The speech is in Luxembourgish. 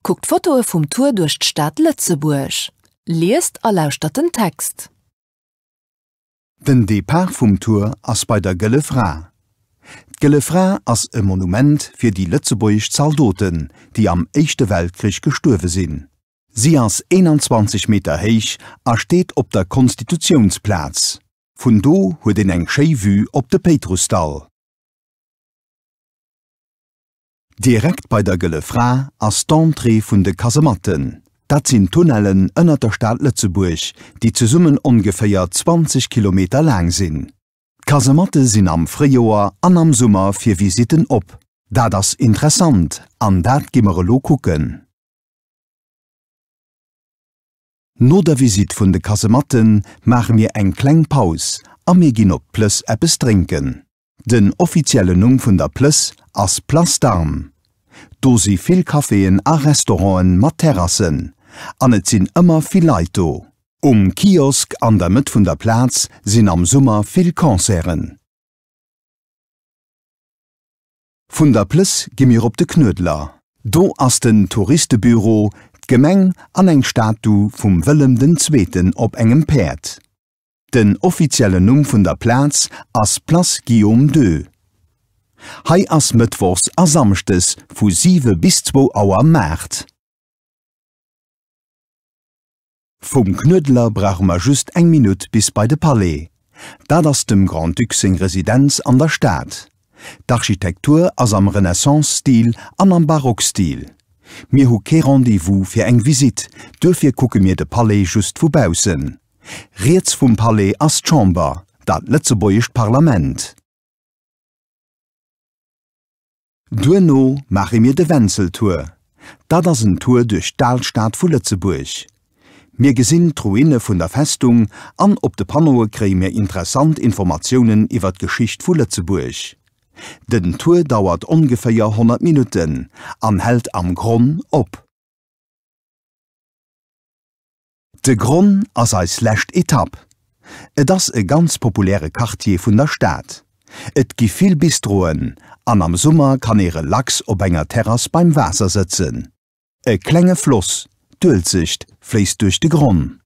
Kuckt Fotoe vum Tour duerch d'Stad Lëtzebuerg. Liest a lauschtert den Text. Den Depart vum Tour ass bei der Gëlle Fra. D'Gëlle Fra ass e Monument fir déi lëtzebuergesch Zaldoten, déi am Éischte Weltkrich gestuerwe sinn. Si ass 21 Meter héich a steet op der Konstitutiounsplaz. Vun do huet een eng schéi Vue op de Péitrussdall. Direkt bei der Gëlle Fra ass d'Entrée vun de Kasematten. Dat sinn Tunnellen ënnert der Stad Lëtzebuerg, déi zesummen ongeféier 20 Kilometer laang sinn. D'Kasematte sinn am Fréijoer an am Summer fir Visitten op. Dat ass interessant an dat gi mer elo kucken. No der Visitt vun de Kasematte maache mir eng kleng Paus a mir ginn op d'Plëss eppes drénken. Den offiziellen Numm vun der Plëss ass Place d'Armes. Do si vill Caféen a Restauranten mat Terrassen an et sinn ëmmer vill Leit do. Um Kiosk an der Mëtt vun der Plaz sinn am Summer vill Concerten. Vun der Plëss gi mir op de Knuedler. Do ass den Touristebüro, d'Gemeng an eng Statu vum Wëllem den Zweeten op engem Päerd. Den offiziellen Numm vun der Plaz ass Place Guillaume ii. Hei ass mëttwochs a samschdes vu 7 bis 2 Auer Maart. Vum Knuedler brauche mer just eng Minutt bis bei de Palais. Dat ass dem Grand-Duc seng Residenz an der Stad. D'Architektur ass am Renaissance-Stil an am Barock-Stil. Mir hu kee Rendez-vous fir eng Visitt, duerfir kucke mir de Palais just vu baussen. Riets vum Palais ass d'Chamber, dat lëtzebuergescht Parlament. Duerno maache mir de Wenzeltour. Dat ass en Tour duerch d'Alstad vu Lëtzebuerg. Mir gesinn d'Ruine vun der Festung an op de Panneaue kréie mir interessant Informatiounen iwwer d'Geschicht vu Lëtzebuerg. Den Tour dauert ongeféier 100 Minutten an hält am Gronn op. De Gronn ass eis lescht Etapp. Et ass e ganz populäre Quartier vun der Stad. Et gi vill Bistroen an am Summer kann ee relax op enger Terrass beim Waasser sëtzen. E klenge Floss, d'Uelzecht, fléisst duerch de Gronn.